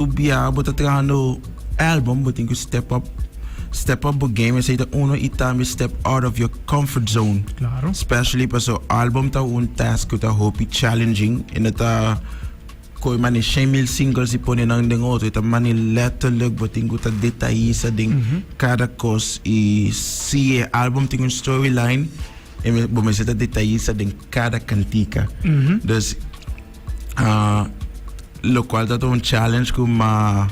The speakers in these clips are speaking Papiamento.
Bo bia bo ta trahando album bo tin cu step up step up bo game esey ta uno y tambe step out of your comfort zone claro especially paso album ta un task cu ta hopi challenging y no ta coi mani shen mil singles y pone nan den otro ta mani letterlijk bo tin cu ta detallista den mm -hmm. cada cos y si e album tin un storyline bo mester ta detallista den cada cantica mm -hmm. dus Ah, lo cual ta ta un challenge cu ma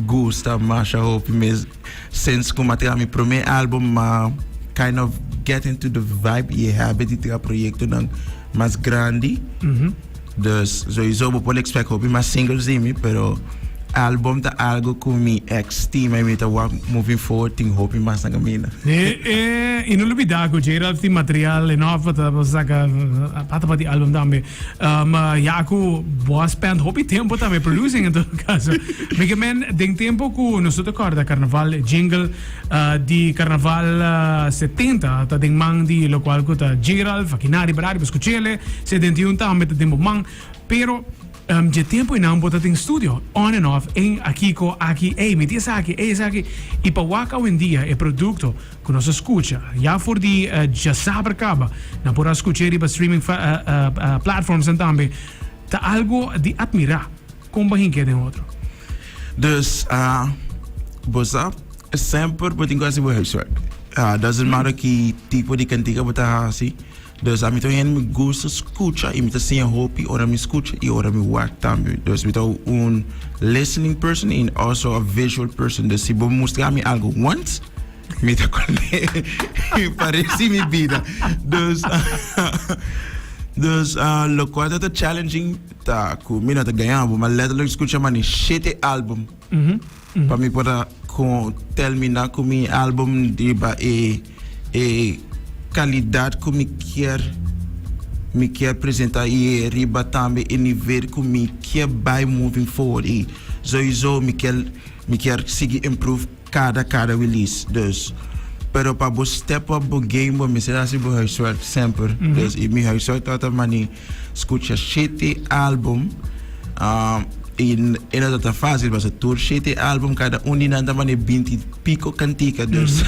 gusta masha hopi mes. Sinds cu ma tra mi prome album ma kind of get into the vibe y habit di tra proyectonan mas grandi. Dus sowieso bo por expect hopi mas singles di mi, pero album ta algo cu mi ex stima y mi ta wak moving forward tin hopi mas na camina. Eh, eh, y no lubida cu J-Ralph tin material enough pa ta saca pata pa tin album tambe. Um, uh, ya aku boa spend hopi tempo tabe producing en todo caso. Mike men den tempo ku nosotros korda carnaval jingle uh, di carnaval uh, 70 ta den man di lo cual ku ta Gerald, Fakinari, Brari, Beskuchele, 71 tambe ta den bo man. Pero um, je tempo inan bota den studio, on and off, en akiko, aki, ei, miti esaki, ei, esaki. I pa waka wendia e producto Cu nos a scucha ya for di djasaber caba, nan por a scucha e riba streaming platformsnan tambe, ta algo di admira con bo hinca e den otro. Dus bo sa, semper bo tin cu hasi bo huiswerk. Doesn't matter ki tipo di cantica bo ta hasi. Dòs ami ta un hende mi gusta skucha i mi ta siña hopi ora mi skucha i ora mi wak tambe. Dòs mi ta un listening person i also a visual person. Dòs si bo mustra mi algu wans mi ta kònde pa rest di mi bida. Dòs dòs lokual ta ta challenging ta ku mi no ta gaña bo, ma letterlijk skucha mane shete album. Pa mi por a termina cu mi album riba e calidad cu mi kier. Mi kier presenta y riba tambe e nivel cu mi kier bay moving forward y soiso mi kier mi kier sigui improve cada cada release dus pero pa bo step up bo game bo mester haci bo huiswerk semper y mi huiswerk ta ta mani. Scucha shete album y e no ta tan facil pasobra tur shete album cada un di nan ta manda binti y pico cantica dus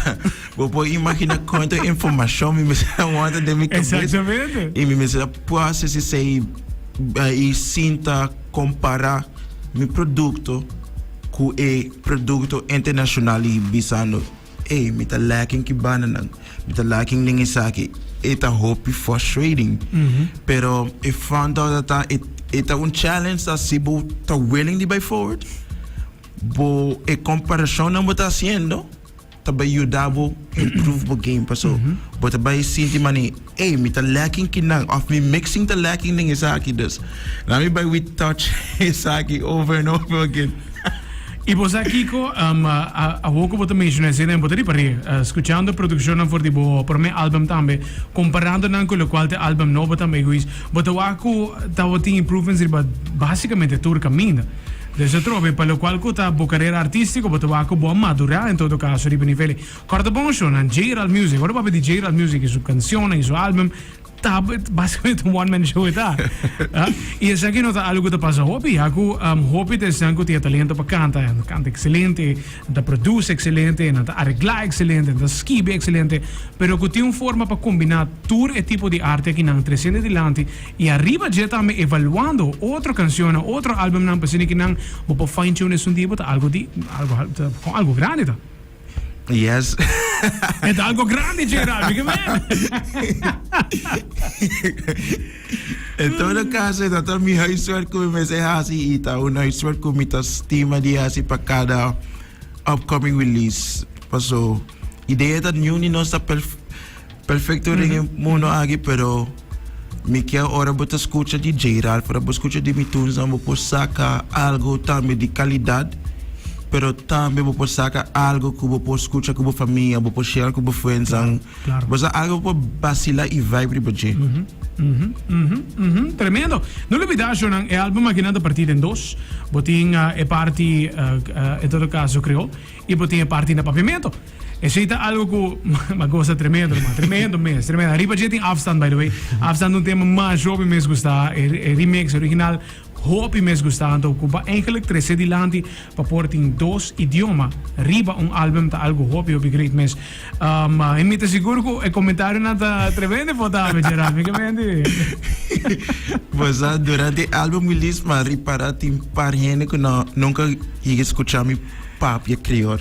bo por imagina cuanto informacion mi mester a wanta den mi cabeza y mi mester a process esey y sinta compara mi producto cu e producto internacional y bisando. Ey, mi ta leken ki bananan, mi ta leken den esaki. E ta hopi frustrating, pero e front door ta ta, e, e ta un challenge ta si bo ta willing di bay forward, bo e comparacionnan bo ta haciendo ta bay yuda bo improve bo game, paso bo ta bay sinti mane. Ey, mi ta lacking ki nan, of mi mixing ta lacking den esaki, dus nan mi bai with touch esaki over and over again. Y bo sa kico? Awo cu bo ta menciona esey nan, bo ta riba re, scuchando produccionnan for di bo prome album tambe, comparando nan cu locual ta album nobo tambe egoist, bo ta wak cu ta bo tin improvements riba basicamente tur caminda. Dus atrobe, pa locual cu ta bo carera artistico, bo ta wak cu bo a madura en todo caso riba nivelen. Corta bon show na J-Ral Music. Ora bo a pidi J-Ral Music y su cancionnan y su album, ta basicamente un one man show e ta. Y esaki no ta algo cu ta pasa hopi, ya cu hopi ta esnan cu tin e talento pa canta. Nan ta canta excelente, nan ta produce excelente, nan ta aregla excelente, nan ta skibi excelente, pero cu tin un forma pa combina tur e tipo di arte akinan trecende dilanti y ariba dje tambe evaluando otro cancionnan, otro albumnan pa asina kinan bo por fine tune esun dia bo ta algo di, algo, algo grandi ta. Yes. Met algo grande, Gerald, mi men. en todo mm. caso, e dat mi huiswerk ku mi se hasi i ta un huiswerk ku mi ta stima di hasi pa cada upcoming release. Paso, idea dat nu ni nos ta perfect Perfecto ring e mundo aki pero mi kier ora bo ta scucha di Jay Ralph ora bo scucha di mi tunes nan bo por saca algo tambe di calidad pero tambe bo por saca algo cu bo por scucha cu bo famia bo por share cu bo friends nan bo sa algo bo por bacila y vibe riba dje. Tremendo. No lubida ashonan e album akinan ta parti den dos. Bo tin e parti en todo caso creol y bo tin e parti na Papiamento. Esei ta algo ku mi a gosa tremendo nomas, tremendo mes, tremendo. Ariba dje tin Afstand, by the way. Afstand un tema masha hopi mes gusta, e remix, e original hopi mes gusta. Anto ku pa eigenlik trese dilanti pa por tin dos idioma riba un album ta algo hopi hopi great mes. en mi ta sigur ku e komentarionan ta tremendo importante dje Rami, ke men di? Pues a durante e album release mi a ripara tin par hende ku no nunka yega skucha mi papia kriol.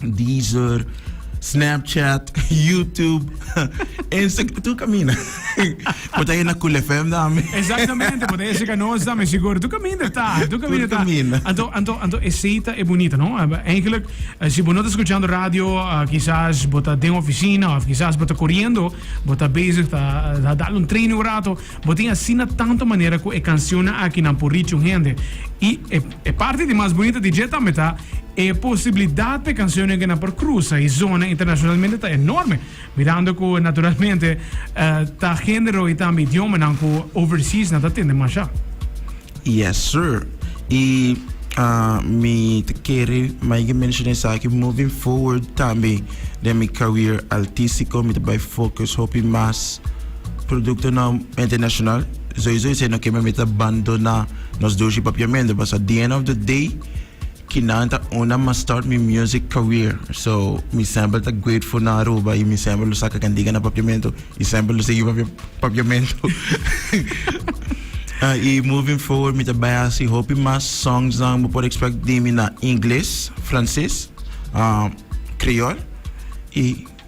Deezer, Snapchat, YouTube, Instagram, tur caminda. Bo ta na Cool FM tambe. Exactamente, bo ta e checa nos tambe seguro. Tur caminda ta, tur caminda ta. Anto, anto, anto esey ta e bonita, no? Eigenlijk, si bo no ta escuchando radio, quizás bo ta den oficina of quizás bo ta coriendo, bo ta bezig ta dal un training un rato. Bo tin asina tantu manera ku e kansionnan akinan por richi un hende. I e parti di mas bunita di dje tambe ta, e posibilidat pa e kansionnan akinan por krusa e zona internashonalmente ta enorme, mirando ku naturalmente ta género i tambe idiomanan ku overseasnan ta tende mashá. Yes sir y mi ta kere maiga menciona esaki moving forward tambe den mi career altisico mi ta bay focus hopi mas productonan internacional sowieso esey no ke mi ta bandona nos doshi papiamento basa the end of the day. Kinan ta una ma start mi music career so mi semper ta grateful na Aruba y mi semper lo saca candiga na papiamento y semper lo sigui papiamento y moving forward mi ta bay haci hopi mas songsnan bo por expect di mi na Ingles, Frances, Creol y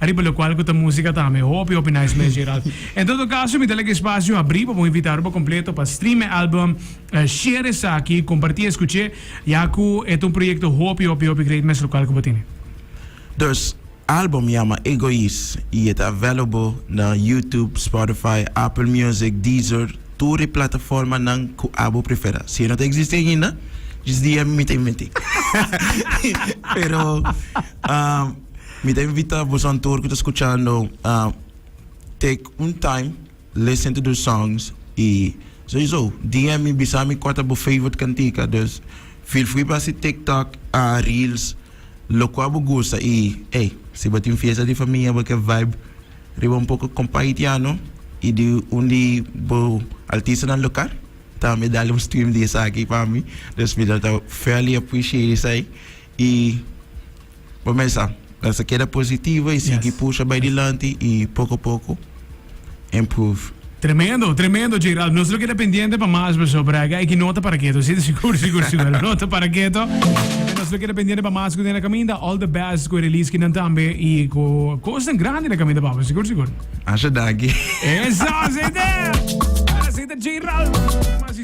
Ariba lokual ku ta músika tambe. Hopi hopi nice mes Gerald. En todo kaso mi ta laga e spasio habrí pa bo invitá Aruba Kompleto pa stream e álbum. Share esaki, kompartí e skuch'é ya ku e ta un proyekto hopi hopi hopi great mes lokual ku bo tene. Dus álbum yama Egoist i e ta available na YouTube, Spotify, Apple Music, Deezer, tur e plataformanan ku abo preferá. Si e no ta eksistí ainda, djis dia mi ta invent'é. Pero. Mi ta invita bosan tur cu ta scuchando a take un time listen to those songs y soyso DM mi bisa mi cua ta bo favorite cantica dus feel free pa haci tiktok a reels locua bo gusta y ey si bo tin fiesta di famia bo ke vibe riba un poco compa haitiano y di un di bo artistanan local tambe dale un stream di esaki pa mi dus mi ta ta fairly appreciate esai y. Bo mesa mester keda positivo y sigui pusha bay dilanti y poco poco improve. Tremendo, tremendo Gerald. Nos lo keda pendiente pa mas paso, pero hay que no ta para keto, si? Sigur, sigur, sigur. No ta para keto. Gente, nos lo keda pendiente pa mas cu den na caminda. All the best cu e release kinan tambe y cu cosnan grandi na caminda, papá. Sigur, sigur. Asha, danki. Eso así ta. Así ta Gerald.